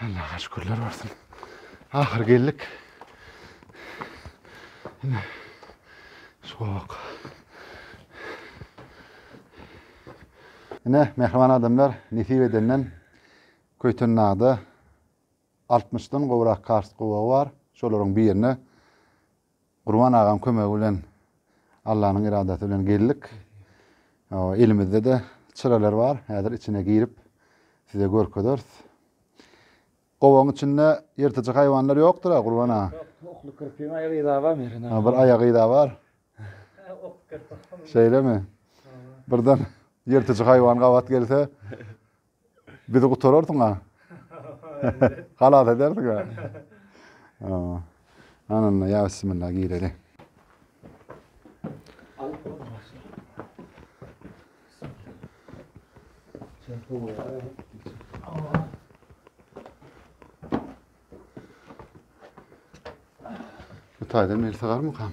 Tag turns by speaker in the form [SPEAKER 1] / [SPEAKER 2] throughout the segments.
[SPEAKER 1] Allah'a şükürler olsun. Ahir geldik. Yine soğuk. Yine mehriban adamlar nesip edenden Köytennada 60-dan gowrak kars gowagy bar. Şolaryň birine Gurban agaň kömegi bilen Allanyň yradasy bilen geldik. Elimizde-de çyralar bar. Häzir içine girip size görkezeris. Gowagyň içinde ýyrtyjy haýwanlar ýokdur-a, Gurban aga? Ýok, okly kirpiň aýagy yza bar mergen aga. Bir aýagy yza bar. Şeýlemi? Birden ýyrtyjy haýwan gabat gelse, Bizi gutararsyň-a. Halas edersiň-a. Ana onda ýa bismilla gireli. Bu taýdan meni sygarmykam?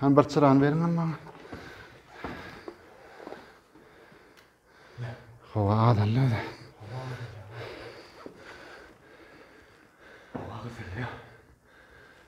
[SPEAKER 1] Hani bir çırany beriň hem maňa. Hava adamda öyle. Hava güzel ya.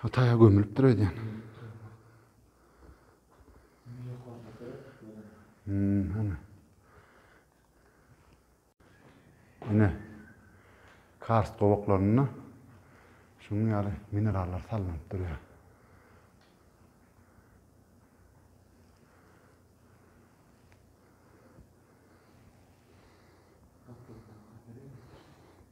[SPEAKER 1] Ha taýa gömülipdir öýdýän. Hmm, Ine. Karst gowaklarynda şunuň ýaly minerallar salnyp durýar.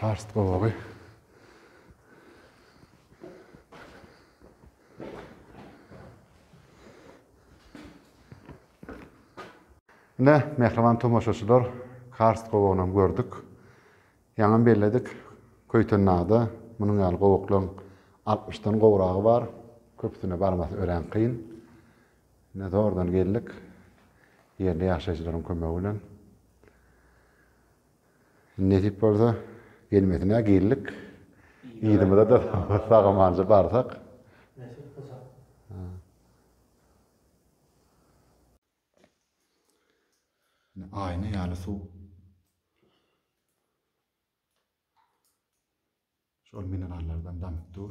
[SPEAKER 1] Karst gowagy. Ine, mähriban tomaşaçylar, karst gowagyny hem gördük. Ýaňam belledik, Köýtendagda munuň ýaly gowaklaryň altmyşdan gowragy bar. Köpüsine barmasy örän kyn. Ine, zordan geldik. Ýerli ýaşaýjylaryň kömegi bilen. Nesip bolsa, gelmesine girlik. Yzymyza-da sag-amanca barsak. Nesip bolsa. Aýna ýaly suw. Şol minerallardan damyp dur.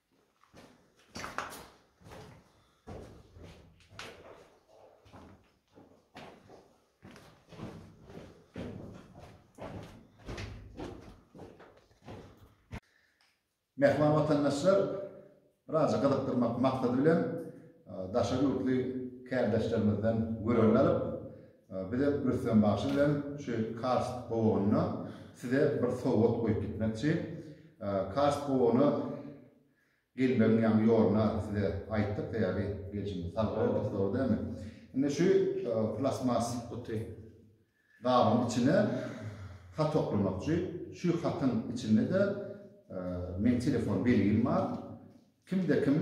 [SPEAKER 1] Mähriban watandaşlar, biraz gyzykdyrmak maksady bilen daşary ýurtly kärdeşlerimizden görelde alyp, Bize Rüstem bagşy bilen şu karst gowagynda size bir sowgat goýup gitmekçi. Karst gowagyny gelmegiň ýaňy ýoluna size aýtdyk, sebäbi gelşimiz sag boldy, dogry dälmi? Indi şu plastmas guty gabyň içine hat oklamak üçin, şu hatyň içinde-de meň telefon belgim bar. Kimde kim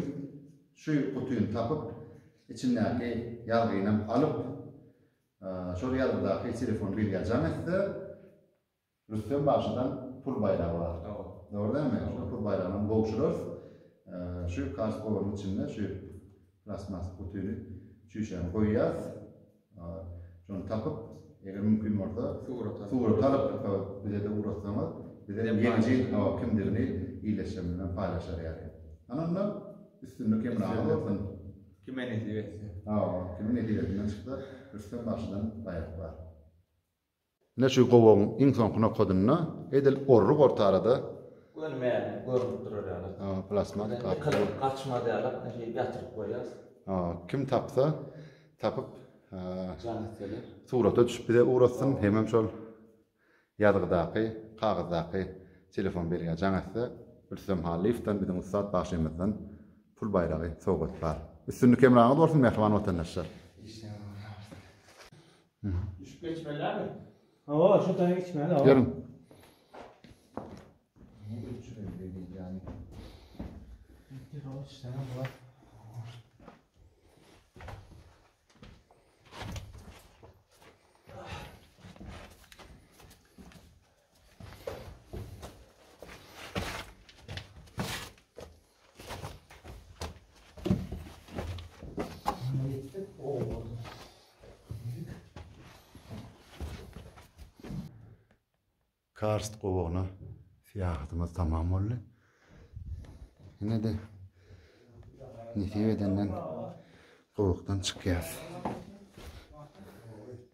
[SPEAKER 1] şu gutyny tapyp, içindäki ýazgynam alyp, şol ýazgydaky telefon belgä jaň etse, Rüstem bagşydan pul baýragy bar. Dogry dälmi? Şol pul baýragynam gowşurarys. Şu kartoganyň içinde şu plastmas gutyny, çüýşäni goýýas. Şony tapyp, eger mümkin bolsa, surat alyp, bize-de ugratsaňyz, biz hem ýeňiji kimdigini ildeşlerimiz bilen paýlaşar ýaly. Ana onda, üstünlik hemraňyz bolsun! Kime nesip etse. Hawa, kimiň nesibesinden çyksa, Rüstem bagşydan baýrak bar. Ine şu gowagyň iň soňky nokadynda edil orry borta arada. Göni mälim görnüp durar ýaly. Ha, plasmasa karta. Ýykyldy, gaçmaz ýaly şeýdip ýatyryp goýýas. Ha, kim tapsa, tapyp, jan etseler. Surata düşüp bize ugratsyn, hemem şol ýazgydaky, kagyzdaky telefon belgä jan etse, Rüstem Hallyýewden biziň ussat bagşymyzdan pul baýragy sowgat bar. Üstünlik hemraňyz bolsun, mähriban watandaşlar! Işiňiz ugruna bolsun! Düşüp geçmeliami? Hawa, şu taýa geçmeli, hawa. Ýörüň. Karst gowagyna syýahatymyz tamam boldy. Ine de nesip edenden gowakdan çykýas.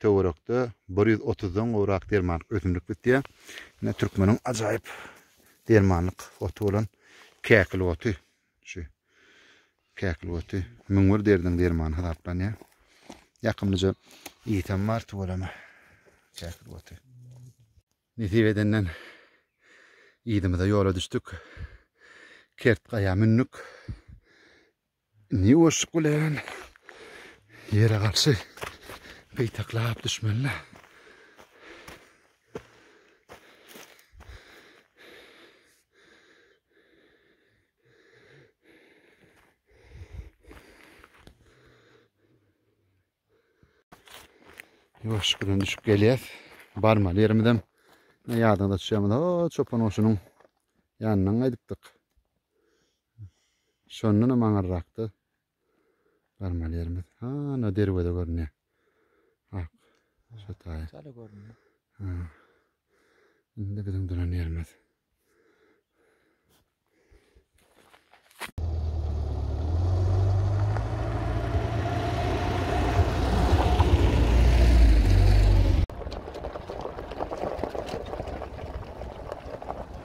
[SPEAKER 1] Töwerekde bir ýüz otuzdan gowrak dermanlyk ösümlik bitýär. Ine türkmeniň ajaýyp dermanlyk oty bolan käkil oty. Şu käkil oty müň bir derdiň dermany hasaplanýar. Ýakymlyja ysy hem bar tüweleme käkil oty. Nesip edenden yzymyza ýola düşdük. Kert gaýa mündük. Indi ýuwaşjyk bilen ýere garşy gytaklap düşmeli-le. Ýuwaşjyk bilen düşüp gelýäs. Barmaly ýerimizem ýadyňyza düşýärmi? O, çopan goşunyň ýanyndan gaýdypdyk. Şondanam aňyrrakda barmaly ýerimiz. Hana derweze görünýär. Ak. Şu taýy. Şöyle görünýär. Ha. Indi biziň duran ýerimiz.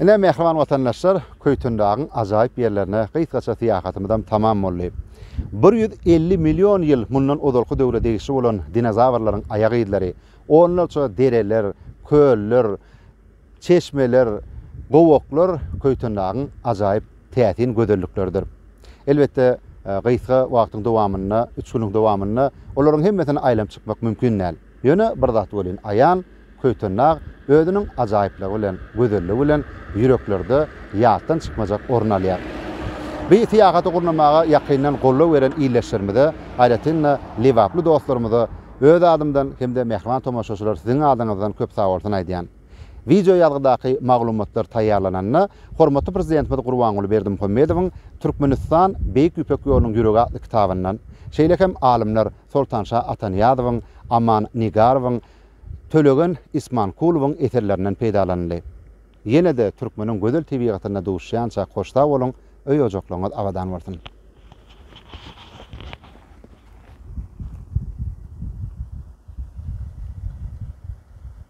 [SPEAKER 1] Ine, mähriban watandaşlar, Köýtendagyň ajaýyp ýerlerine gysgaça syýahatymyzam tamam boldy. Bir ýüz elli million ýyl mundan ozalky döwre degişli bolan dinozawrlaryň aýak yzlary, onlarça dereler, köller, çeşmeler, gowaklar Köýtendagyň ajaýyp täsin gözellikleridir. Elbetde, gysga wagtyň dowamynda, üç günüň dowamynda olaryň hemmesini aýlanyp çykmak mümkin däl. Ýöne bir zat welin aýan, Köýtendag özüniň ajaýyplygy bilen, gözelligi bilen ýüreklerde ýatdan çykmajak orun alýar. Bu syýahaty gurnamaga ýakyndan goldaw beren ildeşlerimize, aýratyn-da, lebaply dostlarymyza öz adymdan hem-de mähriban tomaşaçylar siziň adyňyzdan köp sagbolsun aýdýan. Wideo ýazgydaky maglumatlar taýýarlananda, hormatly Prezidentimiz Gurbanguly Berdimuhamedowyň Türkmenistan, Beýik Ýüpek ýolunyň ýüregi atly kitabyndan, şeýle hem alymlar, Soltanşa Atanyýazowyň, Aman Nigarowyň, Tölegen Ismankulowyň eserlerinden peýdalanyldy. Ýene-de türkmeniň gözel tebigatynda duşýança hoşsag boluň, öý-ojaklaryňyz abadan bolsun!